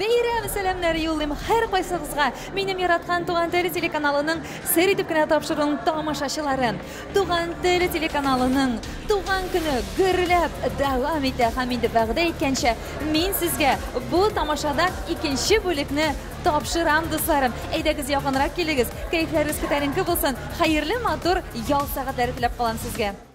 Бәйрәм сәламнәре юллыйм һәркайсыгызга. Минем яраткан Туган теле телеканалының сер итеп кенә тапшыруын тамашачылары. Туган теле телеканалының туган көне гөрләп дәвам итә һәм инде вәгъдә иткәнчә мин сезгә бу тамашадан икенче бүлекне тапшырам, дусларым. Әйдәгез якынрак килегез, кәефләрегез күтәренке булсын, хәерле матур ял сәгатьләре теләп калам сезгә.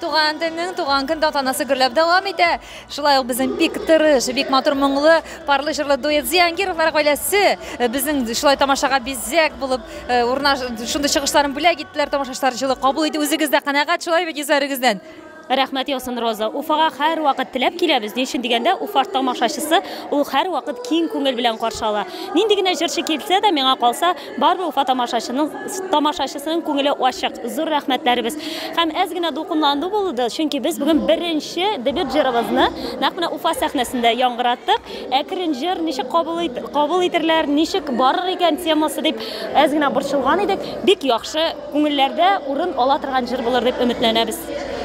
Туган телнең туган көн тантанасы гөрләп дәвам итә. Шулай ук безнең бик тырыш, бик матур моңлы, парлы җырлы дуэт Зиянгировлар гаиләсе э, безнең шулай тамашага бизәк булып э, урнаш шундый чыгышларын бүләк иттеләр. Тамашачылар җылы кабул итте. Үзегез дә канәгать шулай бит йөзләрегездән. Рәхмәт яусын, Роза. Уфага һәрвакыт теләп киләбез. Ни өчен дигәндә, Уфа тамашачысы ул һәрвакыт киң күңел белән каршы ала. Нинди генә җырчы килсә дә, миңа калса, Барбы Уфа тамашачының тамашачысының күңеле ачык. Зур рәхмәтләребез. Һәм әз генә дулкынланду булды, чөнки без бүген беренче дебют җырыбызны нәкъ менә Уфа сәхнәсендә яңгыраттык. Әкрен җыр ничек кабул кабул итерләр, ничек барыр икән темасы дип әз генә борчылган идек. Бик яхшы, күңелләрдә урын ала торган җыр булыр дип өметләнәбез.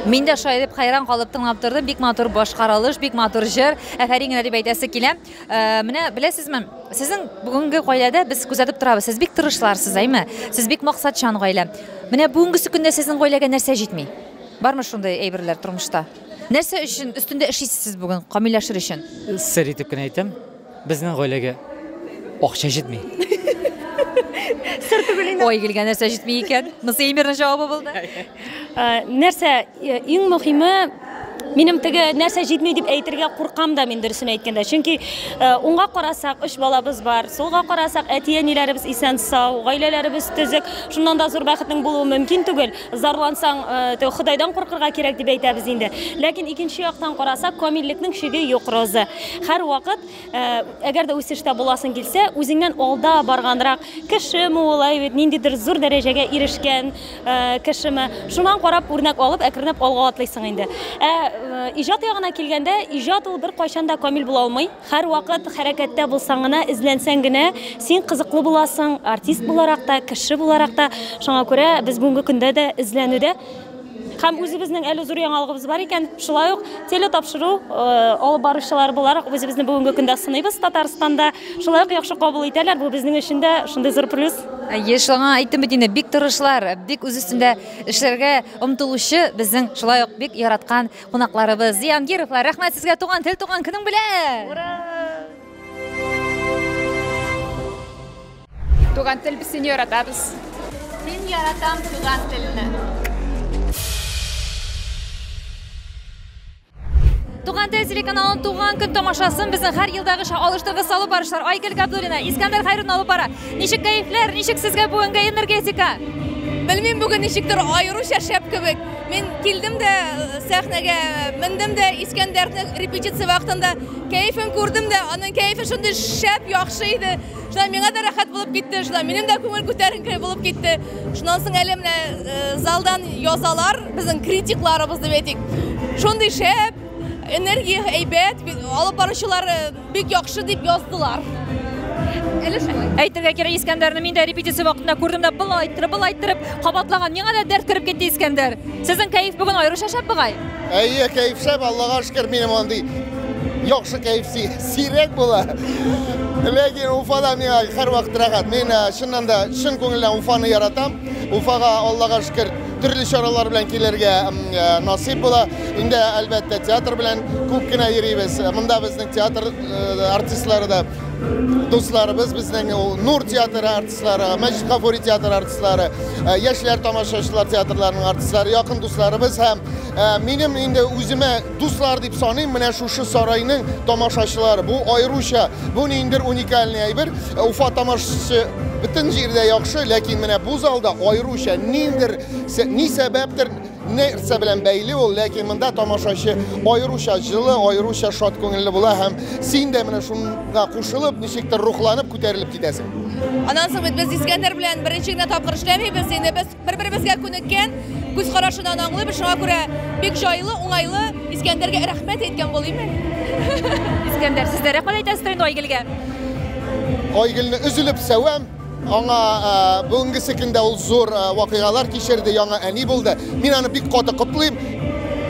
Мин дә шулай дип хәйран калып тыңлап тордым. Бик матур башкарылыш, бик матур җыр. Әфәрин генә дип әйтәсе килә. Э, менә беләсезме сезнең бүгенге гаиләдә без күзәтеп торабыз сез бик тырышларсыз әйме сез бик максатчан гаилә менә бүгенге көндә сезнең гаиләгә нәрсә җитми бармы шундый әйберләр тормышта нәрсә өчен өстендә эшлисез сез бүген камилләшер өчен сер итеп кенә әйтәм безнең гаиләгә акча җитми сер түгел инде ой гелгә нәрсә җитми икән монысы эймерның җавабы булды э, нәрсә Э, иң мөхиме минем теге нәрсә җитми дип әйтергә куркам да мин дөресен әйткәндә чөнки э, уңга карасак өч балабыз бар сулга карасак әти әниләребез исән сау гаиләләребез төзек шуннан да зур бәхетнең булуы мөмкин түгел зарлансаң э, ходайдан куркырга кирәк дип әйтәбез инде ләкин икенче яктан карасак камиллекнең чиге юк роза һәрвакыт Ә, әгәр дә үсештә буласың килсә, үзеңнән алда барганрак кешеме ул, әйбит, ниндидер зур дәрәҗәгә ирешкән ә, кешеме, шуннан карап үрнәк алып, әкренләп алга атлыйсың инде. Ә э, иҗат ягына килгәндә, иҗат ул беркайчан да камил була алмый. Һәрвакыт хәрәкәттә булсаң гына, эзләнсәң генә, син кызыклы буласың, артист буларак та, кеше буларак та. Шуңа күрә без бүгенге көндә дә эзләнүдә. Һәм үзебезнең әле зур яңалыгыбыз бар икән, шулай ук телетапшыру алып баручылары буларак үзебезне бүгенге көндә сыныйбыз Татарстанда. Шулай ук яхшы кабул итәләр, бу безнең өчен дә шундый зур плюс. Еш аңа әйттем бит инде, бик тырышлар, бик үз өстендә эшләргә омтылучы безнең шулай ук бик яраткан кунакларыбыз, Зиянгировлар. Рәхмәт сезгә, туган тел, туган көнең белән! Ура! Туган тел без сине яратабыз. Мин яратам туган телне. Туган тел телеканалының туган көн тамашасын безнең һәр елдагыча алыштыргы салу барышлар Айгөл Габдуллина, Искәндәр Хайрун алып бара. Ничек кәефләр, ничек сезгә бүгенге энергетика? Белмим бүген ничектер аеруча шәп кебек. Мин килдем дә э, сәхнәгә, мендем дә Искәндәрнең репетиция вакытында кәефен күрдем дә, аның кәефе шундый шәп, яхшы иде. Шулай миңа да рәхәт булып китте, шулай минем дә күңел күтәренке булып китте. Шуннан соң әле менә э, залдан язалар, безнең критикларыбыз дип әйтик. Шундый шәп, энергия әйбәт, алып баручылар э, бик яхшы дип яздылар. Әле шулай. Әйтергә кирәк, Искәндәрне мин дә репетиция вакытында күрдем дә, был айттырып, был айттырып, кабатлаган. Миңа да дәрт кереп китте Искәндәр. Сезнең кәеф бүген аеруча шәп бугай. Әйе, кәеф шәп, Аллага шөкер, минем андый яхшы кәеф Сирәк була. Ләкин Уфада миңа һәрвакыт рәхәт. Мин э, чыннан да чын күңелдән Уфаны яратам. Уфага Аллага шөкер төрле чаралар белән килергә э, насыйп була. Инде әлбәттә театр белән күп кенә йөрибез. Монда безнең театр э, артистлары да дусларыбыз безнең ул Нур театры артистлары, Мәҗит Гафури театры артистлары, э, яшьләр тамашачылар театрларының артистлары, якын дусларыбыз һәм э, минем инде үземә Дуслар дип саныйм, менә шушы сарайның тамашачылары. Бу аеруча, бу ниндер уникальный әйбер. Э, Уфа тамашачысы бөтен җирдә яхшы, ләкин менә бу залда аеруча ниндер ни сәбәптер нәрсә белән бәйле ул, ләкин монда тамашачы аеруча җылы, аеруча шат күңелле була һәм син дә менә шуңа кушылып, ничектер рухланып, күтәрелеп китәсең. Анан соң бит без Искәндәр белән беренче генә тапкыр эшләмибез, инде без Бер-беребезгә күнеккән, күз карашыннан аңлыйбыз, шуңа күрә бик җайлы, уңайлы. Искәндәргә рәхмәт әйткән булыймы? Искәндәр, сез дә рәхмәт әйтәсездер инде Айгелгә. Айгелне өзелеп сәвәм. Аңа бүгенгесе көндә ул зур вакыйгалар кичерде, яңа әни булды. Мин аны бик каты котлыйм.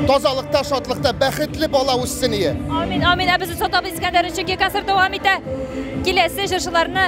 Тазалыкта, шатлыкта, бәхетле бала үссен ие. Амин, амин. Ә без озатабыз Искәндәрне, чөнки концерт дәвам итә. Киләсе җырчыларны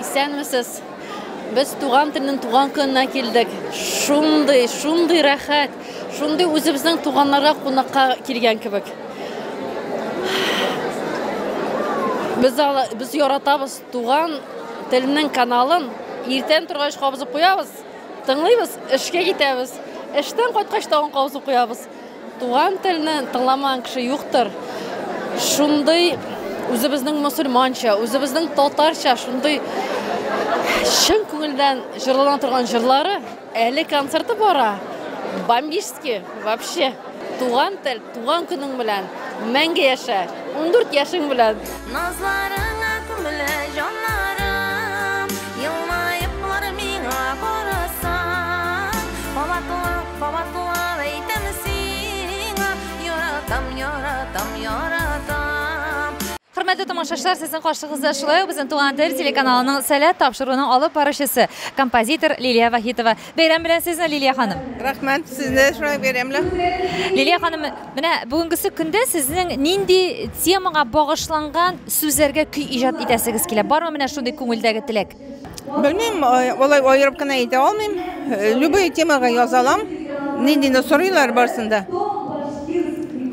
Исәнмесез! Без туган телнең туган көненә килдек. Шундый, шундый рәхәт, шундый үзебезнең туганнарга кунакка килгән кебек. Без ала, без яратабыз туган телнең каналын. Иртән торгач кабызып куябыз, тыңлыйбыз, эшкә китәбез. Эштән кайткач тагын кабызып куябыз. Туган телне тыңламаган кеше юктыр. Шундый үзебезнең мусульманча, үзебезнең татарча шундый чын күңелдән җырлана торган җырлары, әле концерты бара. Бомбически вообще. Туган тел, туган көнең белән. Мәңге яшә. 14 яшең белән. Назларыңа күмелә җаннарым, елмаеп бар миңа карасаң, кабатлап. Хөрмәтле тамашачылар, сезнең каршыгызда шулай ук безнең Туган тел телеканалының сәләт тапшыруының алып баручысы, композитор Лилия Вахитова. Бәйрәм белән сезне, Лилия ханым. Рәхмәт, сезне шулай бәйрәм белән. Лилия ханым, менә бүгенгесе көндә сезнең нинди темага багышланган сүзләргә көй иҗат итәсегез килә? Бармы менә шундый күңелдәге теләк? Белмим, алай аерып кына әйтә алмыйм. Любой темага яза алам. Ниндине сорыйлар барсын да.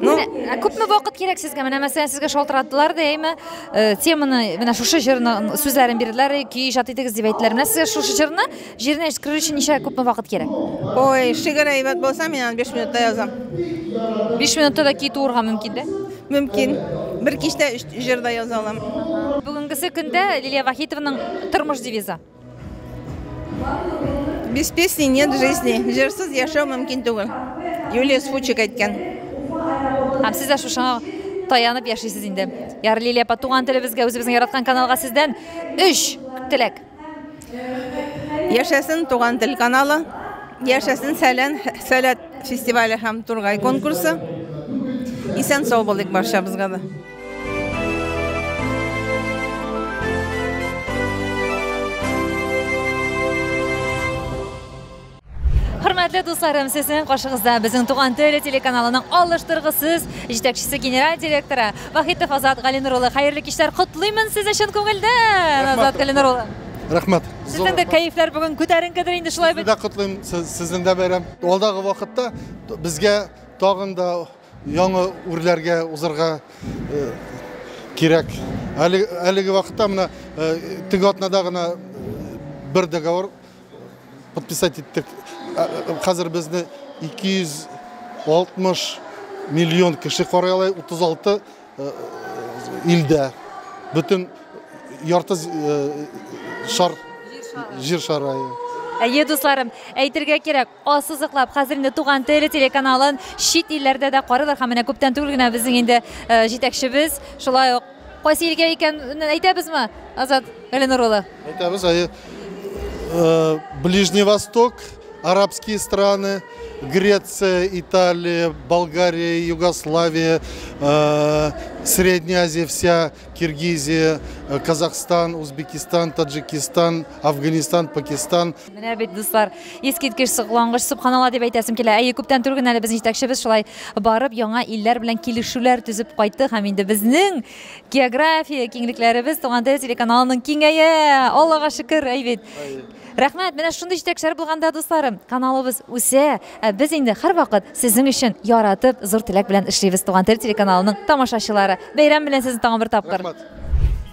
Ну, Ә күпме вакыт кирәк сезгә? Менә мәсәлән, сезгә шалтыраттылар да, әйме, э, теманы, менә шушы җырны сүзләрен бирделәр, и, көй иҗат итегез дип әйттеләр. Менә сезгә шушы җырны җиренә җиткерер өчен ничә күпме вакыт кирәк? Ой, шигырь әйбәт булса, мин аны 5 минутта язам. 5 минутта да көй туырга мөмкин дә. Мөмкин. Бер кичтә өч җыр да яза алам. Бүгенгесе көндә Лилия Вахитованың тормыш девизы. Без песни нет жизни. Җырсыз яшәү мөмкин түгел. Юлия Сфучик әйткән. Һәм сез дә шушыңа таянып яшисез инде. Ярлилия апа, туган телебезгә, үзебезнең яраткан каналга сездән өч теләк. Яшәсен Туган тел каналы, яшәсен Сәлән сәләт фестивале һәм Тургай конкурсы. Исән сау булыйк барчабызга да. Хөрмәтле дусларым, сезнең каршыгызда безнең Туган теле телеканалының алыштыргысыз җитәкчесе, генераль директоры Вахитов Азат Галинур улы. Хәерле кичләр, котлыймын сезне чын күңелдән, Азат Галинур улы. Рәхмәт. Сезнең дә кәефләр бүген күтәренкедер инде шулай бит. Сезне дә котлыйм, сезнең дә бәйрәм. Алдагы вакытта безгә тагын да яңа үрләргә узарга э, кирәк. Әлеге вакытта менә э, теге атнада гына э, бер договор подписать иттек. Ә, ә, Хәзер безне 260 миллион кеше карый ала 36 э, илдә. Бөтен ярты з- э, шар җир шарае. Әйе, дусларым, әйтергә кирәк, Ассызыклап, хәзер инде Туган тел телеканалын чит илләрдә дә карыйлар һәм менә күптән түгел генә безнең инде җитәкчебез шулай ук кайсы илгә икән әйтәбезме, Азат Галинур улы? Әйтәбез, әйе. Ближний Восток, арабские страны, Греция, Италия, Болгария, Югославия, э, Средняя Азия вся, Киргизия, э, Казахстан, Узбекистан, Таджикистан, Афганистан, Пакистан, Менә бит, дуслар, искиткеч соклангыч, Сөбханалла дип әйтәсем килә. Әйе, күптән түгел генә әле безнең җитәкчебез шулай барып, яңа илләр белән килешүләр төзеп кайтты һәм инде безнең география киңлекләребез Туган тел телеканалының киңәя! Аллага шөкер, әй бит. Рәхмәт, менә шундый җитәкчеләр булганда, дусларым, каналыбыз үсә, ә без инде һәрвакыт сезнең өчен яратып, зур теләк белән эшлибез Туган тел телеканалының тамашачылары. Бәйрәм белән сезне тагын бер тапкыр! Рәхмәт!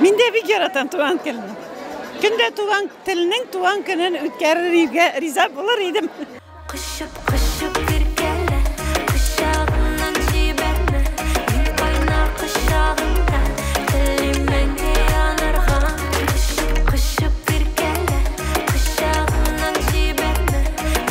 Мин дә бик яратам туган телне. Көн дә туган телнең туган көнен үткәрергә риза булыр идем. Кышып, кышып иркәлә, кочагымнан җибәрмә. Мин кайна кочагыңда, телим мәңге янарга. Кышып, кышып иркәлә, кочагымнан җибәрмә.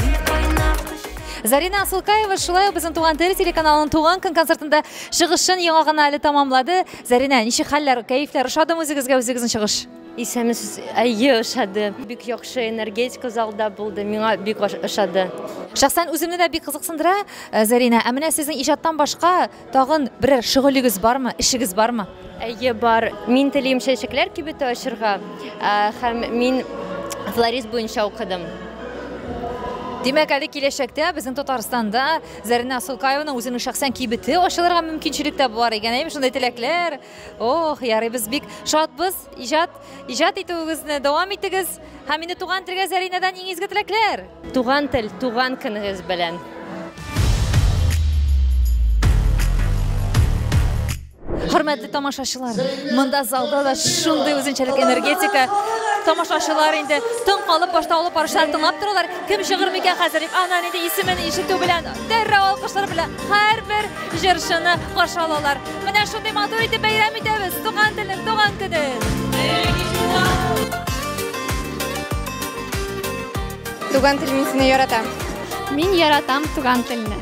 Мин кайна кочагыңда. Зарина Асылкаева шулай ук безнең Туган тел телеканалының Туган көн концертында чыгышын яңа гына әле тәмамлады. Зәринә, ничек хәлләр, кәефләр, ошадымы үзегезгә үзегезнең чыгыш? Исәнмесез, әйе, ошады. Бик яхшы энергетика залда булды, миңа бик ошады. Шәхсән үземне дә бик кызыксындыра, э, Зәринә, ә менә сезнең иҗаттан башка тагын берәр шөгылегез бармы, эшегез бармы? Әйе, бар. Мин телим чәчәкләр кибете ачырга э, һәм мин флорист буенча укыдым. Димәк, әле киләчәктә безнең Татарстанда Зәринә Сулкаевның үзенең шәхсән кибете ачылырга мөмкинчелек тә бар икән, әйме шундый теләкләр. Ох, ярый без бик шатбыз. Иҗат, иҗат итүегезне дәвам итегез. Һәм инде туган телгә Зәринәдән иң изге теләкләр. Туган тел, туган көнегез белән. Хөрмәтле тамашачылар, монда залда да шундый үзенчәлек энергетика. Тамашачылар инде тын калып башта алып баручылар тыңлап торалар. Кем чыгыр микән хәзер дип ана инде исемен ишетү белән дәррәү алкышлар белән һәрбер җырчыны каршы алалар. Менә шундый матур итеп бәйрәм итәбез. Туган телнең туган көне. Туган тел мин сине яратам. Мин яратам туган телне.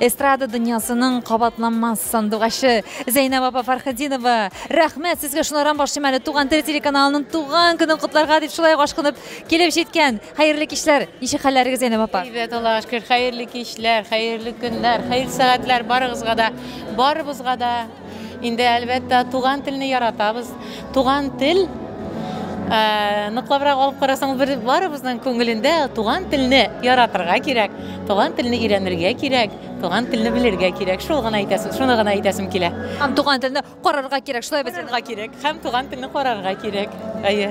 Эстрада дөньясының кабатланмас сандугачы Зәйнәб апа Фархетдинова, рәхмәт сезгә шунардан башлыйм әле Туган тел телеканалының туган көнен котларга дип шулай ук ашкынып килеп җиткән. Хәерле кичләр. Ничек хәлләрегез Зәйнәб апа? Әйбәт, Аллага шөкер. Хәерле кичләр, хәерле көннәр, хәерле сәгатьләр барыгызга да, барыбызга да. Инде әлбәттә туган телне яратабыз. Туган тел Э, ныклабрак алып карасаң бер барыбызның күңелендә туган телне яратырга кирәк туган телне өйрәнергә кирәк туган телне белергә кирәк шул гына әйтәсем шуны гына әйтәсем килә һәм туган телне карарга кирәк шулай белергә кирәк һәм туган телне карарга кирәк әйе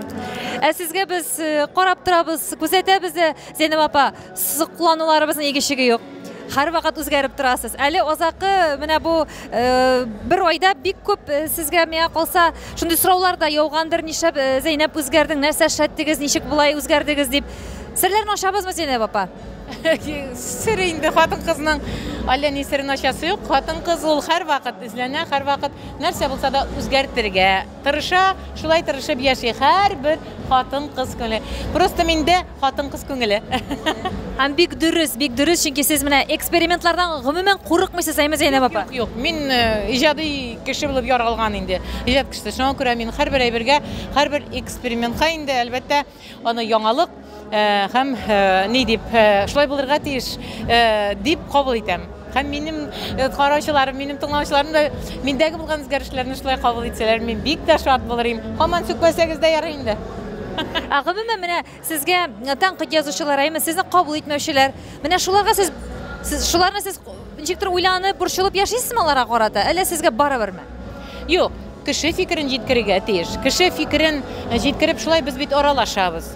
ә сезгә без э, карап торабыз күзәтәбез дә зәйнәб апа Соклануларыбызның игешеге юк. Һәрвакыт үзгәреп торасыз. Әле азакы менә бу э, бер айда бик күп э, сезгә миңа калса шундый сораулар да яугандыр, нишләп э, Зәйнәп үзгәрдең, нәрсә эшләттегез, ничек болай үзгәрдегез дип. Серләрне ачабызмы Зәйнәп апа? сер инде хатын кызның әллә ни серен ачасы юк хатын кыз ул һәрвакыт эзләнә һәрвакыт нәрсә булса да үзгәртергә Тырыша, шулай тырышып яши һәрбер хатын-кыз күңеле. Просто миндә хатын-кыз күңеле. Һәм бик дөрес, бик дөрес, чөнки сез менә экспериментлардан гомумән курыкмыйсыз, әйме, Зәйнәб апа? Юк, мин э, иҗади кеше булып яралган инде. Иҗат кешесе. Шуңа күрә мин һәрбер әйбергә, һәрбер экспериментка инде, әлбәттә, Аны яңалык һәм ни дип шулай булырга тиеш дип кабул итәм. Һәм минем караучыларым, минем тыңлаучыларым да миндәге булган үзгәрешләрне шулай кабул итсәләр, мин бик тә шат булыр идем. Һаман сүкмәсәгез дә ярый инде. Ә гомумән менә сезгә тәнкыйть язучылар, әйме, сезне кабул итмәүчеләр, менә шуларга сез, сез шуларны сез Ничектер уйланып, борчылып яшисезме аларга карата, әллә сезгә барыберме? Юк, кеше фикерен җиткерергә тиеш. Кеше фикерен җиткереп, шулай без бит аралашабыз.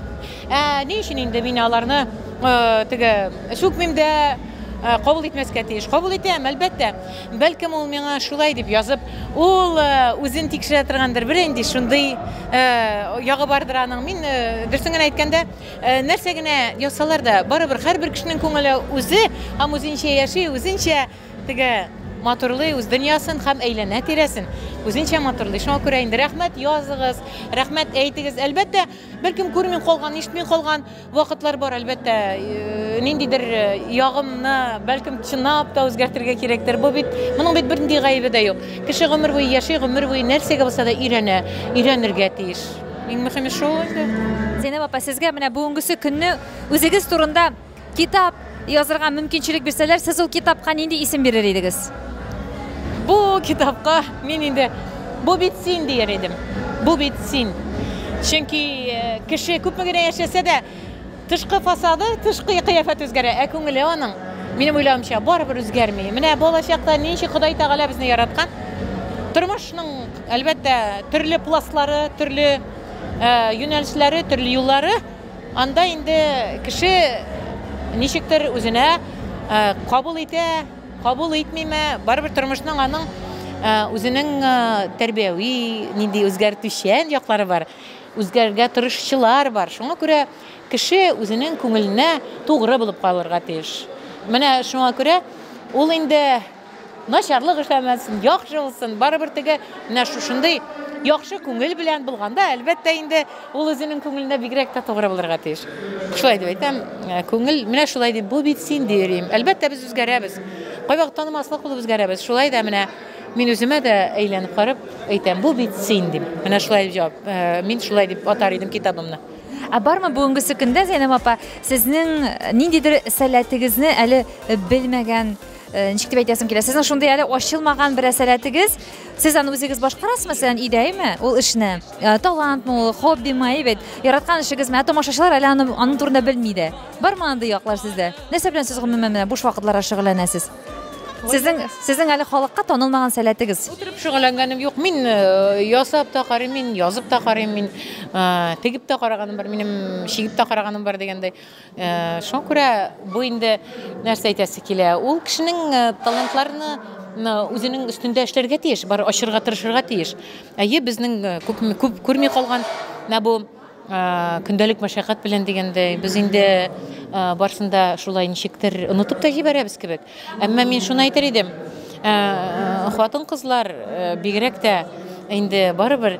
Ә ни өчен инде мин аларны э, теге сүкмим дә, э, кабул итмәскә тиеш. Кабул итәм, әлбәттә. Бәлкем ул миңа шулай дип язып, ул э, үзен тикшерә торгандыр, бер инде шундый э, ягы бардыр аның. Мин э, дөресен генә әйткәндә, Нәрсә генә ясалар да, барыбер һәрбер кешенең күңеле үзе һәм үзенчә яши, үзенчә теге матурлый үз дөньясын һәм әйләнә тирәсен үзенчә матурлый. Шуңа күрә инде рәхмәт языгыз, рәхмәт әйтегез. Әлбәттә, беркем күрми калган, ишетми калган вакытлар бар, әлбәттә, э, ниндидер э, ягымны, бәлкем, чынлап та үзгәртергә кирәктер. Бу бит, моның бит бернинди гаебе дә юк. Кеше гомер буе яши, гомер буе нәрсәгә булса да өйрәнә, өйрәнергә тиеш. Иң мөхиме шул инде. Зәйнәб апа, сезгә менә бүгенгесе көнне үзегез турында китап язырга мөмкинчелек бирсәләр, сез ул китапка нинди исем бирер идегез? Бу китапка мин инде бу бит син дияр идем. Бу бит син. Чөнки э, кеше күпме генә яшәсә дә, Тышкы фасады, тышкы кыяфәте үзгәрә, ә күңеле аның, минем уйлавымча, барыбер үзгәрми. Менә балачакта ничек Ходай Тәгалә безне яраткан, тормышның, әлбәттә, төрле пластлары, төрле юнәлешләре, төрле юллары, анда инде кеше ничектер үзенә кабул итә, кабул итмиме, барыбер тормышның аның үзенең тәрбияви, нинди үзгәртүчән яклары бар. Үзгәрергә тырышчылар бар. Шуңа күрә кеше үзенең күңеленә тугры булып калырга тиеш. Менә шуңа күрә ул инде начарлык эшләмәсен, яхшы булсын, барыбер теге менә шушындый яхшы күңел белән булганда, әлбәттә инде ул үзенең күңеленә бигрәк тә тугры булырга тиеш. Шулай дип әйтәм, э, күңел менә шулай дип, бу бит син дип йөрим. Әлбәттә без үзгәрәбез. Кайвакыт танымаслык булып үзгәрәбез. Шулай да менә Мин үземә дә әйләнеп карап әйтәм, бу бит син дип. Менә шулай дип җавап. Э, мин шулай дип атар идем китабымны. Ә бармы бүгенгесе көндә Зәйнәб апа сезнең ниндидер сәләтегезне әле белмәгән э, ничек дип әйтәсем килә сезнең шундый әле ачылмаган бер сәләтегез сез аны үзегез башкарасызмы мәсәлән өйдәме ул эшне э, талантмы ул хоббимы әйбәт яраткан эшегезме ә томашачылар әле аны, аның турында белми дә бармы андый яклар сездә нәрсә белән сез гомумән менә буш вакытларда шөгыльләнәсез Сезнең сезнең әле халыкка танылмаган сәләтегез. Утырып шөгыльләнгәнем юк. Мин э, ясап та карыйм, мин язып та карыйм, мин э, тегеп тә караганым бар, минем чигеп тә караганым бар дигәндәй. Э, шуңа күрә бу инде нәрсә әйтәсе килә? Ул кешенең талантларны үзенең өстендә эшләргә тиеш, бар ачырга тырышырга тиеш. Әйе, безнең күп күп күрми калган менә бу Көндәлек мәшәкать белән дигәндәй, без инде барсын да шулай ничектер онытып та җибәрәбез кебек. Әмма мин шуны әйтер идем, хатын-кызлар бигрәк тә инде барыбер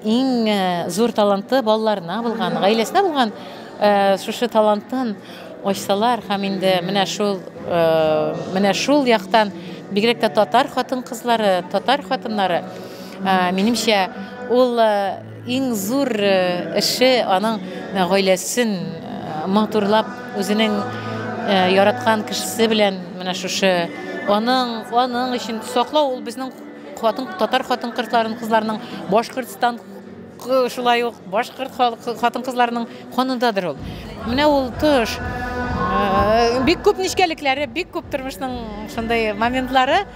иң зур таланты балаларына булган, гаиләсенә булган шушы талантын ачсалар һәм инде менә шул менә шул яктан бигрәк тә татар хатын-кызлары, татар хатыннары, минемчә, ул Иң зур эше аның гаиләсен матурлап, үзенең яраткан кешесе белән менә шушы аның аның өчен саклау ул безнең хатын татар хатын кызларын кызларының башкортстан шулай ук башкорт хатын кызларының канындадыр ул менә ул тыш бик күп нечкәлекләре бик күп тормышның шундый моментлары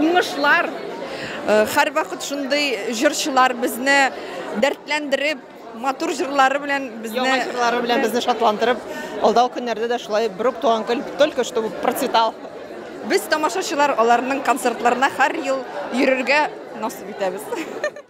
Уңышлар! Һәрвакыт шундый җырчылар безне дәртләндереп, матур җырлары белән безне Яңа җырлары белән безне шатландырып, алдау көннәрдә дә шулай берүк туган көн, только чтобы процветал. Без тамашачылар аларның концертларына һәр ел йөрергә насыйп итәбез.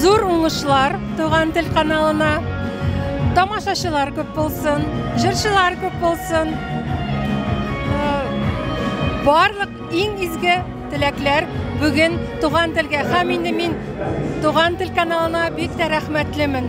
Зур уңышлар Туган тел каналына. Тамашачылар күп булсын, җырчылар күп булсын. Э, барлык иң изге теләкләр бүген Туган телгә һәм инде мин Туган тел каналына бик тә рәхмәтлемен.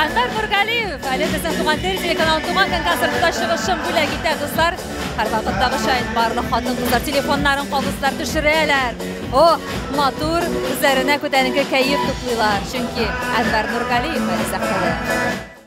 Әнвәр Нургалиев, әле безнең туган тел телеканалы туган көн концертында чыгышын бүләк итә, дуслар. Һәрвакыттагы шайын барлык хатын-кызлар телефоннарын кабызлар төшерәләр. О, матур, үзләренә күтәренке кәеф туплыйлар, чөнки Әнвәр Нургалиев әле сәхнәдә.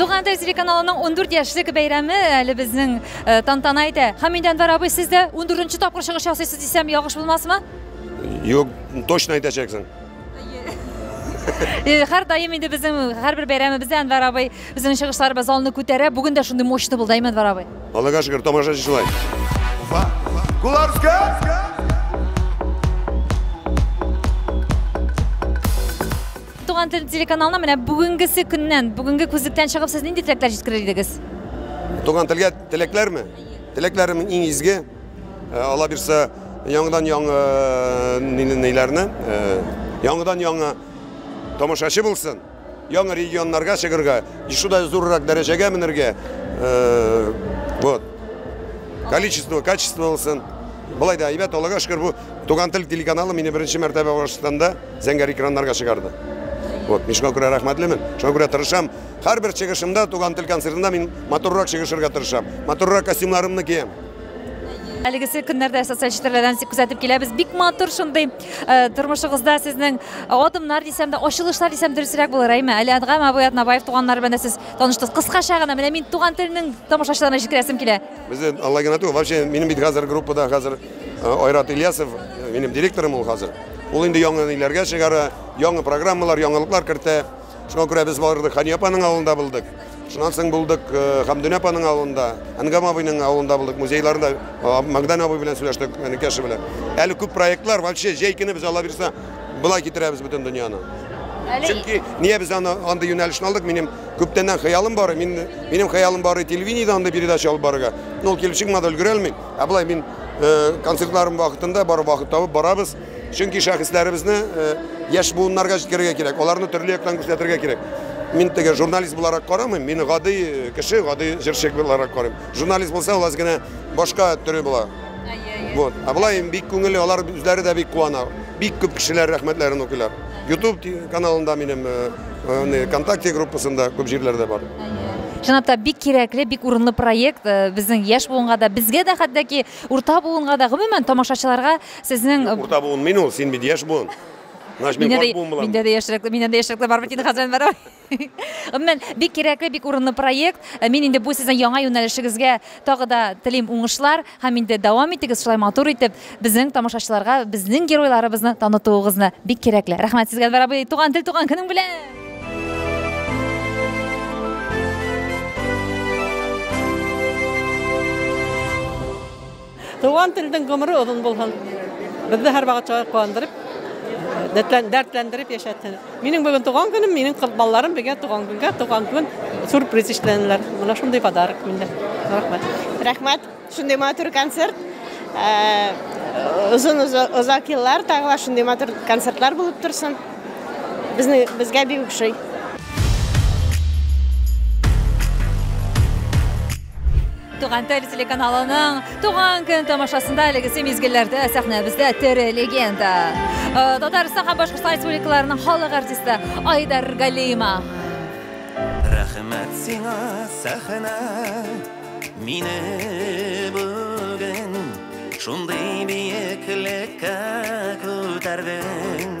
Туган тел телеканалының 14 яшьлек бәйрәме әле безнең э, тантана итә. Хамид Әнвәр абый, сез дә 14 тапкыр чыгыш ясыйсыз дисәм, ялгыш булмасмы? Юк, точно әйтәчәксең. Һәр даим инде безнең һәрбер бәйрәмебездә Әнвәр абый Безнең чыгышларыбыз залны күтәрә. Бүген дә шундый мощный булды, Әймән Варабый. Аллага шөкер, тамаша шулай. Туган тел телеканалына менә бүгенгесе көннән, бүгенге күзлектән чыгып сез нинди теләкләр җиткерер идегез? Туган телгә теләкләрме? Теләкләрем иң изге. Э, Алла бирсә, яңадан яңа э, ниле- ниләрне, э, яңадан яңа тамашачы булсын. Яңа регионнарга чыгырга, шудай зуррак дәрәҗәгә менергә. Вот. Количество, качество булсын. Болай да әйбәт, Аллага шөкер, бу Туган тел телеканалы мине беренче мәртәбә Башкортстанда зәңгәр экраннарга чыгарды. Вот, мин шуңа күрә рәхмәтлемен, шуңа күрә тырышам. Һәрбер чыгышымда, туган тел концертында мин моторрак чыгышырга тырышам. Моторрак костюмнарымны киям. Әлегесе көннәрдә социаль челтәрләрдән күзәтеп киләбез. Бик матур шундый Э, тормышыгызда сезнең э, адымнар дисәм дә ачылышлар дисәм дөресрәк булыр әйме әле әдгам абый атнабаев туганнары белән дә сез таныштыгыз кыскача гына менә мин туган телнең тамашачыларына җиткерәсем килә без алла генә түгел вообще минем бит хәзер группада хәзер э, айрат ильясов минем директорым ул хәзер ул инде яңа ниләргә чыгара яңа программалар яңалыклар кертә Шуңа күрә без бардык, Хани апаның авылында булдык. Шуннан соң булдык э, Хамдүнә апаның авылында, Әнгам абыйның авылында булдык, музейларында э, Магдан абый белән сөйләштек, Әнекәше белән. Әле күп проектлар, вообще җәй көне без Алла бирса, былай китерәбез бөтен дөньяны. Әле Чөнки нигә без аны андый юнәлешне алдык? Минем күптәннән хыялым бар, мин минем хыялым бар телевидениедә андый передача алып барырга. Но ул килеп чыкмады, өлгерә алмыйм. Ә былай мин э, концертларым вакытында бар вакыт табып барабыз. Чөнки шәхесләребезне яшь буыннарга җиткерергә кирәк, аларны төрле яктан күрсәтергә кирәк. Мин теге журналист буларак карамыйм, мин гади кеше, гади җырчы буларак карыйм. Журналист булса, ул аз генә башка төре була. Вот. А былай бик күңелле, алар үзләре дә бик куана. Бик күп кешеләр рәхмәтләрен укыйлар. YouTube каналында минем, ВКонтакте группасында күп җирләрдә бар. Чынлап та бик кирәкле, бик урынлы проект. Безнең яшь буынга да, безгә дә хәтта ки урта буынга да, гомумән тамашачыларга Сезнең Юк, урта буын мин ул, син бит яшь буын. Значит, мин карт буын булам. Миндә дә яшьрәк, миннән дә яшьрәкләр бар бит инде хәзер бар. Гомумән, бик кирәкле, бик урынлы проект. Э, мин инде бу сезнең яңа юнәлешегезгә тагы да телим уңышлар һәм инде дәвам итегез шулай матур итеп безнең тамашачыларга безнең геройларыбызны танытуыгызны. Бик кирәкле. Рәхмәт сезгә, Әнвәр абый, туган тел, туган көнең белән! Туган телдин гомри озын булсын. Безне һәр вакыт шулай куандырып, дәртләндереп яшәтсен. Минем бүген туган көнем, минем кыз балаларым бергә туган көнгә, туган көн сюрприз эшләнеләр. Менә шундый подарок миндә. Рәхмәт. Рәхмәт. Шундый матур концерт. Озын озак еллар тагыла шундый матур концертлар булып торсын. Безне безгә бик ошый. Туган тел телеканалының туган көн тамашасында әлегесе мизгелләрдә сәхнәбездә тере легенда. Э, Татарстан һәм Башкортстан республикаларының халык артисты Айдар Галима. Рәхмәт сиңа, сәхнә, мине бүген шундый биеклеккә күтәрдең.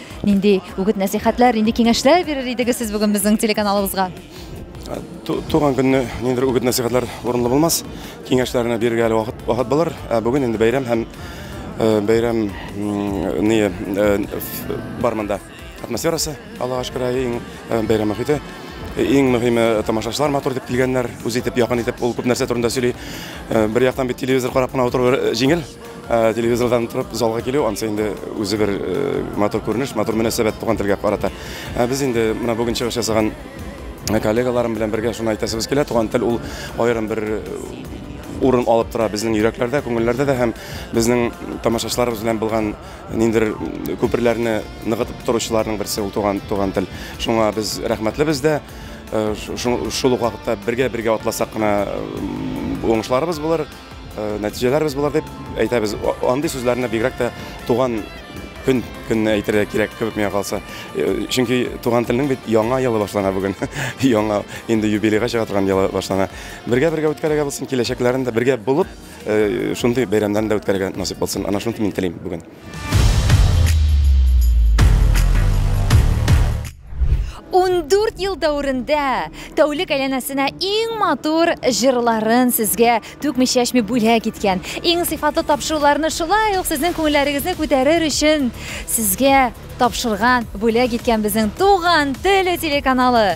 Нинди үгет-нәсихәтләр, нинди киңәшләр бирер идегез сез бүген безнең телеканалыбызга? Туган көнне ниндидер үгет-нәсихәтләр урынлы булмас. Киңәшләрне бирергә әле вакыт вакыт булыр. Ә бүген инде бәйрәм һәм э, бәйрәм ни э, бар монда атмосферасы, Аллага шөкер, иң э, бәйрәм мөхите. Иң мөһиме тамашачылар матур итеп килгәннәр, үз итеп, якын итеп, ул күп нәрсә турында сөйли. Бер яктан бит телевизор карап кына утыру җиңел, Э, телевизордан торып залга килү ансы инде үзе бер э, матур күренеш матур мөнәсәбәт туган телгә карата э, без инде менә бүген чыгыш ясаган коллегаларым белән бергә шуны әйтәсебез килә туган тел ул аерым бер урын алып тора безнең йөрәкләрдә күңелләрдә дә һәм безнең тамашачыларыбыз белән булган ниндер күперләрне ныгытып торучыларның берсе ул туган туган тел шуңа без рәхмәтлебез дә шул ук вакытта бергә бергә атласак кына уңышларыбыз булыр Э, нәтиҗәләр без болар дип әйтәбез. Андый сүзләрне бигрәк тә туган көн көнне әйтергә кирәк кебек миңа калса. Э, чөнки туган телнең бит яңа елы башлана бүген. яңа инде юбилейга чыга торган елы башлана. Бергә-бергә үткәрергә булсын, киләчәкләрен дә бергә булып, э, шундый бәйрәмнәрне дә үткәрергә насыйп булсын. Ана шуны мин телим бүген. Ундүрт ел дәверендә тәүлек әйләнәсенә иң матур җырларын сезгә түкми чәчми бүләк иткән. Иң сыйфатлы тапшыруларны шулай ук сезнең күңелләрегезне күтәрер өчен сезгә тапшырган, бүләк иткән безнең туган теле телеканалы.